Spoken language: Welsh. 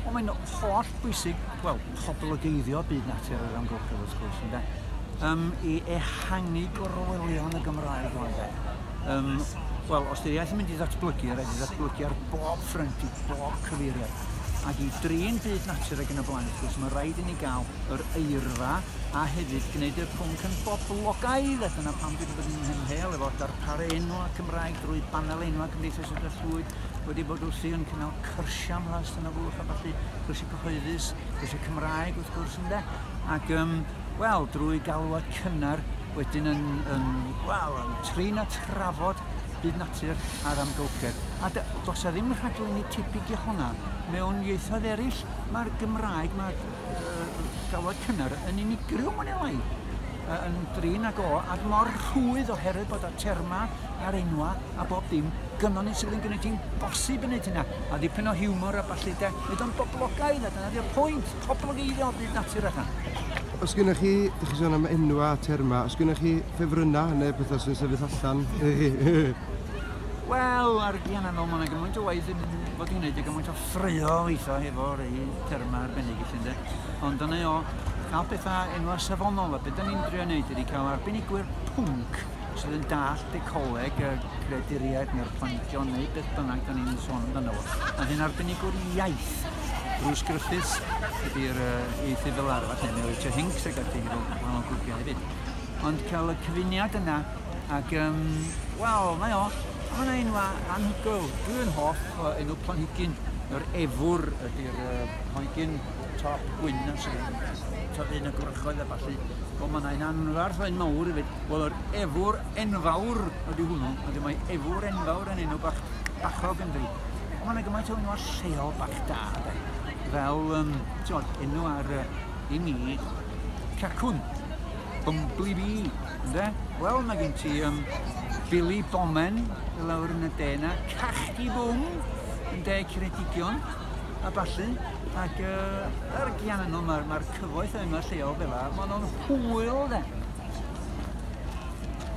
Ond mae'n holl bwysig, wel, poblogeiddio byd natur yr amgylchedd wrth gwrs, ynde? Um, I ehangu gorwelion y Gymraeg o'n de. Um, wel, os dy'r iaith yn mynd i ddatblygu, rhaid i ddatblygu ar bob ffrynt, i bob cyfeiriad. Ac i drin byd natur ag yn y blaen, wrth gwrs, mae rhaid i ni gael yr eirfa a hefyd gwneud y pwnc yn boblogaidd. A dyna pam dwi wedi bod yn hymhel efo darparu enwa Cymraeg drwy banel enwa Cymdeithas y Llwyd wedi bod wrthi yn cynnal cyrsiau am Las Tân y Bwlch a ballu, cyrsiau cyhoeddus, cyrsiau Cymraeg wrth gwrs ynde, ac um, wel, drwy galwad cynnar wedyn yn, yn, wel, yn trin a trafod byd natur a'r amgylchedd. A does e ddim rhaglenni tebyg i honna. Mewn ieithoedd eraill, mae'r Gymraeg, mae'r uh, galwad cynnar yn unigryw mwyn elai yn drin ag o, a mor rhwydd oherwydd bod y termau a'r enwa a bob dim gynnon ni sydd yn gwneud hi'n bosib yn gwneud hynna. A ddipyn o hiwmor a ballu de, nid o'n boblogaidd a dyna di'r pwynt, poblogeiddio o byd natur allan. Os gynnwch chi, dych chi sôn am enwa a terma, os gynnwch chi ffefrynnau neu pethau sy'n sefyll allan i chi? Wel, ar y gian anol, mae yna gymaint o waith yn fod i'n gwneud a gymaint o ffrio weithio efo rei terma arbennig i chi, ynddo. Ond dyna o, cael pethau enwa safonol, a beth da ni'n drio wneud ydy cael arbenigwyr pwnc sydd yn dallt ecoleg, y creaduriaid neu'r planhigion neu beth bynnag da ni'n sôn amdano fo. A hyn arbenigwr iaith. Bruce Griffiths ydy'r uh, ieithydd fel arfer, neu Mary Jo Hinks ac ati hefyd, wahanol grwpiau hefyd. Ond cael y cyfuniad yna, ac um, wel, mae o, mae yna enwa anhygoel. Dwi'n hoff o enw planhigyn, yr efwr ydy'r uh, planhigyn top gwyn a sy'n tyfu yn y gwrychoedd a falle. Ond mae yna'n anfarth o'n mawr i fyd. Wel, yr efwr enfawr ydy hwnnw. Ydy mae efwr enfawr yn enw bach bachog yn dweud. Ond mae'n gymaint o'n nhw'n lleol bach da. De. Fel, um, tiod, enw ar uh, i mi, cacwn, bumbly bee, ynddo? Wel, mae gen ti um, Billy Bomen, y lawr yn y dena, cachdi bwm, yn de Ceredigion, a ballu. Ac uh, er gian yno, mae'r ma cyfoeth yn y lleol fel yna, maen nhw'n hwyl de.